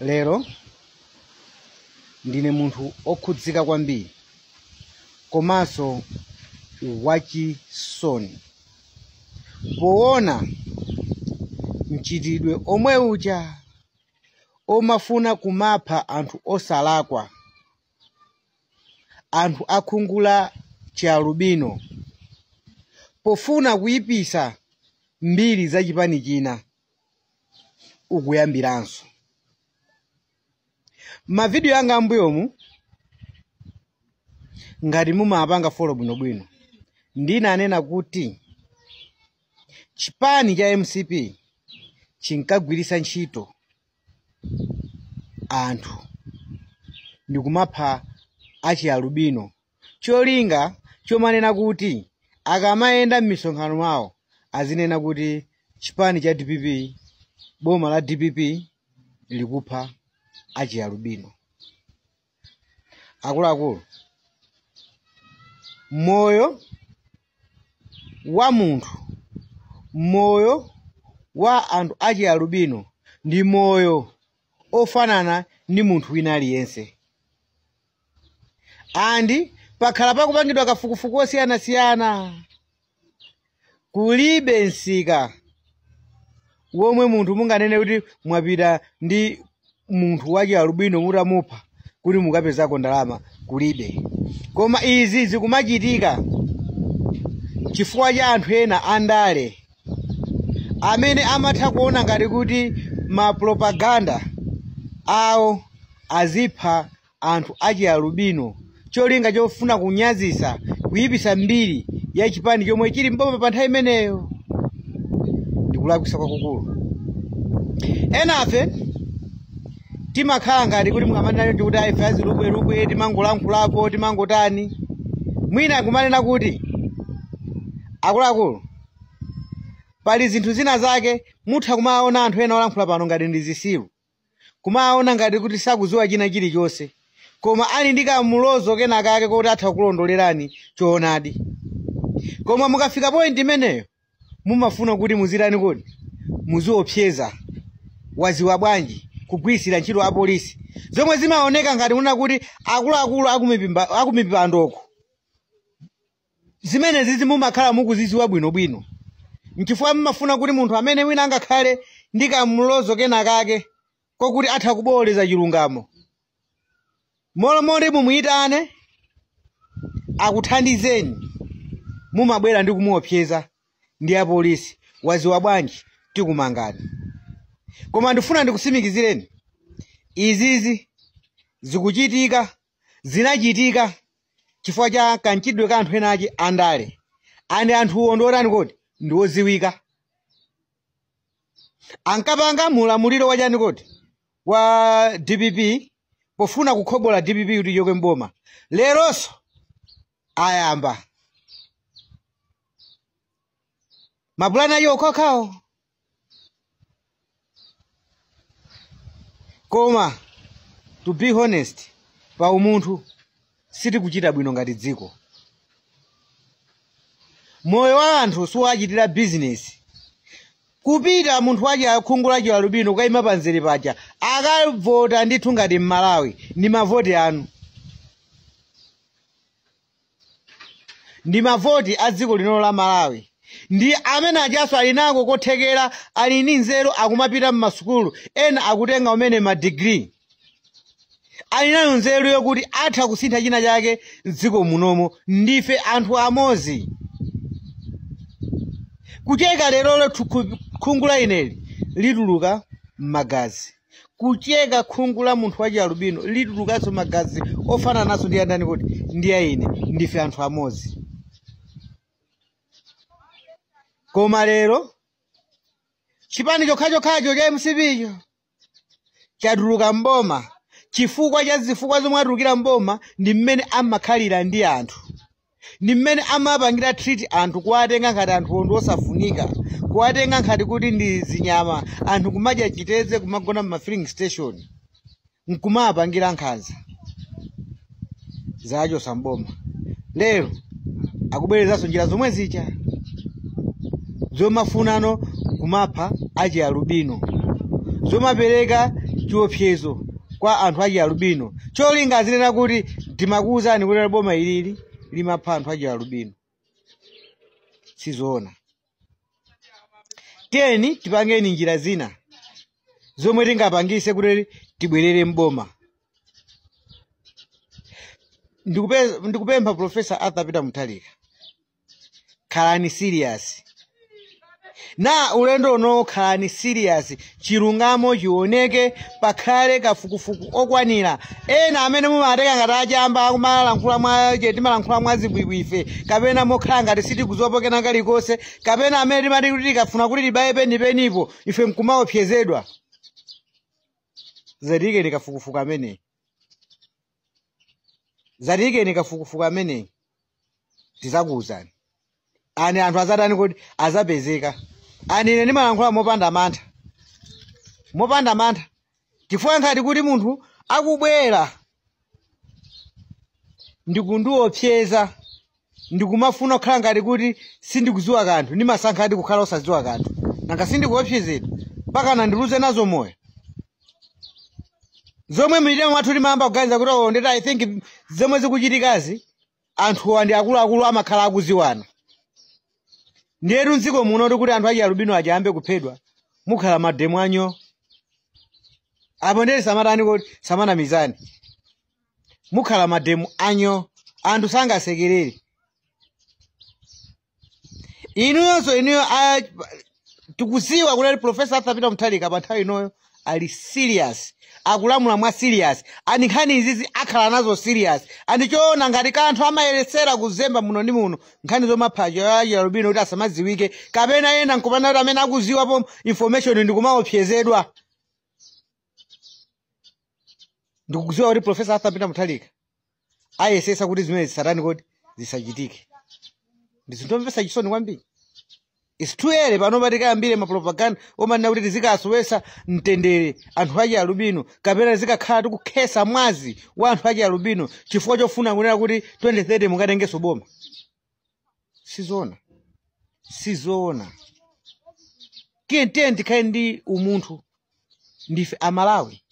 lero ndine munthu okhudzika kwambiri komanso wachisoni poona mchitidwe omwe uja omafuna kumapha anthu osalakwa anthu akhungu la chialubino pofuna kuyipisa mbiri za chipani china ukuyambiranso mavidiyo anga ambuyomu ngati mumapanga folo bwinobwino ndinanena kuti chipani cha mcp chinkagwiritsa ntchito anthu ndikumapha achialubino cholinga chomanena kuti akamayenda m'misonkhano mwawo azinena kuti chipani cha dpp boma la dpp likupha achialubino akuluakulu moyo wa munthu moyo wa anthu achialubino ndi moyo ofanana ndi munthu wina aliyense and pakhala pakupangidwa kafukufuku osiyanasiyana kulibe msika womwe munthu munganene kuti mwapita ndi munthu wachialubino mutamupha kuti mukapezako ndalama kulibe koma izi zikumachitika chifukwa cha anthu ena andale amene amatha kuona ngati kuti mapropaganda awo azipha anthu achialubino cholinga chofuna kunyazisa kuyipisa mbiri ya chipani chomwe chili mboma pa nthawi imeneyo ndikulakwisa kwakukulu enafe timakhala ngati kuti mumanena choncho kuti aife azilubwelubwe timangolankhulapo timangotani mwina akumanena kuti akuluakulu pali zinthu zina zake mutha kumaona anthu ena olankhula pano ngati ndi zisiru kumaona ngati kuti sakudziwa china chilichonse koma ali ndi kamulozo kena kake kuti atha kulondolerani choonadi koma mukafika point imeneyo mumafuna kuti muzitani kodi muziopseza waziwa bwanji kugwiritsira ntchito apolisi zomwe zimaoneka ngati kunena kuti akuluakulu akumipandoko zimenezizi mumakhala mukuzidziwa bwinobwino nchifukwa mmafuna kuti munthu amene wina angakhale ndi kamlozo kena kake kokuti atha kuboweleza chilungamo molo mmalo moti mumuyitane akuthandizeni mumabwera ndi kumuopseza ndi apolisi waziwa bwanji tikumangani koma ndifuna ndikusimikizireni izizi zikuchitika zinachitika chifukwa cha kamchitidwe ka anthu ena achi andale nde anthuwo ndi otani kodi ndi oziwika ankapanga mulamuliro wachani kodi wa dpp pofuna kukhobola dpp kuti ichoke mboma leronso ayamba mapulani awo okhaokhawo koma to be honest pa umunthu sitikuchita bwino ngati dziko moyo wa anthu siwachitira bizinesi kupita munthu wachi wakhungu la chialubino kukayima pamzere paja akavota ndithu ngati mmalawi ndi mavoti anu ndi mavoti a dziko lino la malawi ndi amene ajanso ali nako kothekera ali ndi nzeru akumapita mmasukulu ena akutenga kumene madigiri ali nayo nzeru yokuti atha kusintha china chake mdziko munomo ndife anthu amodzi kucheka lerolo khungu la ineli lituluka magazi kucheka khungu la munthu wa chialubino litulukanso magazi ofanananso ndi andani kuti ndi a ine ndife anthu amodzi koma lero chipani chokhachokhacho cha mcpcho chatuluka mboma chifukwa cha zifukwa zomwe atulukira mboma ndi mmene amakhalira ndi anthu ndi mmene amapangira treat anthu kuwatenga ngati anthuwo ndi osafunika kuwatenga ngati kuti ndi zinyama anthu kumadya chiteze kumagona mma filling station nkumawapangira nkhanza zawachosa mboma lero akubwerezanso njira zomwe zija zomafunano kumapha achialubino zomapereka chiopsezo kwa anthu achialubino cholinga azinena kuti timakuwuzani kuti boma ilili limapha anthu achialubino sizoona tiyeni tipangeni njira zina zomwe tingapangise kuti tibwerere mboma Ndikupe- ndikupempha profesa arthur peter mutharika khalani serious na ulendo unowo khalani serious chilungamo chioneke pakhale kafukufuku okwanira ena amene mumawatenga ngati achamba akumalankhula mwa je timalankhula mwa zibwibwi ife kapena mokhala ngati sitikuziwapo kena kalikonse kapena amene timati kuti tikafuna kuti tibaye penipenipo ife nkumaopsezedwa zatiyikeni kafukufuku ameneyi zatiyikeni kafukufuku ameneyi tizakuwuzani ani anthu azatani kodi azapezeke ani ine ndimalankhula mopanda mantha mopanda mantha chifukwa nkhani kuti munthu akubwera ndikundiopseza ndikumafuna kukhala ngati kuti sindikudziwa kanthu ndimasankhadi kukhala osadziwa kanthu nanga sindikuopsezedwa mpaka ndiluze nazo moyo zomwe mmitima mwathu timayamba kuganiza kuti oh, nditi i think zomwe zikuchitikazi anthuwa ndi akuluakulu amakhala akuziwana ndiyetu mdziko muno tikuti anthu achialubino aja ayambe kuphedwa mukhala mademo anyooo apo ndeti samatani kuti samanamizani mukhala mademo anyooo anthu sangasekerere inuyonso inuyo a- tikuziwa kuti ali profesa arthur peter muthalika pa nthawi inoyo ali serious akulamula mwa serious ani nkhani izizi akhala nazo serious ani sizoona ngati anthu amayesera kuzemba muno ndi muno nkhani zomapha achialubino kuti asamadziwike kapena ena nkupana kuti amene akuziwapo information ndikumaopsezedwa ndikudziwa kuti profesa arthur peter muthalika ayesesa kuti zimenezi zisatani kodi zisachitike ndi zinthu omvesa chisoni kwambiri its too early pano kuti tikayambire mapropaganda omanena kuti tizikasowesa mtendere anthu achialubino kapena tizikakhala tikukhesa mwazi wa anthu achialubino chifukwa chofuna kunena kuti 2030 mukatengeso boma sizoona sizoona tiyeni tiyeni tikhale ndi umunthu ndife amalawi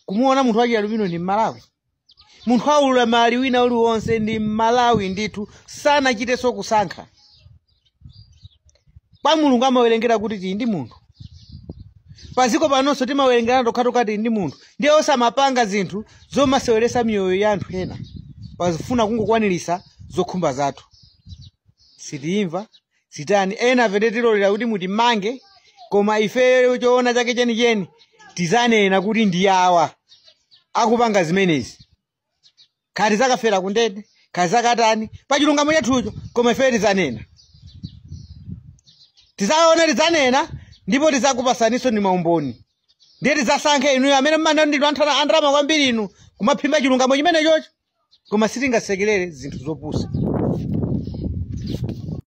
kumuona munthu wachialubino ndi mmalawi munthu waulumali wina uliwonse ndi mmalawi ndithu sanachitenso kusankha kwa mulungu amawerengera kuti tili ndi munthu paziko panonso timawerengerana tokhatokha tili ndi munthu ndiye osamapanga zinthu zomaseweresa miyoyo ya anthu ena pazifuna kungokwaniritsa zokhumba zathu sitiyimva sitani ena fete tilolera kuti mutimange koma ifeyo choona chake chenicheni tizanena kuti ndi awa akupanga zimenezi kaya tizakafera kundende kaya zakatani pa chilungamo chathucho koma ifeyo tizanena tizaona tidzanena ndipo tizakupasaninso ndi maumboni ndiye tizasankhe inuyo amene mmana ndinu anthana andalama kwambiri inu kumaphimba chilungamo chimenechocho koma sitingasekerere zinthu zopusa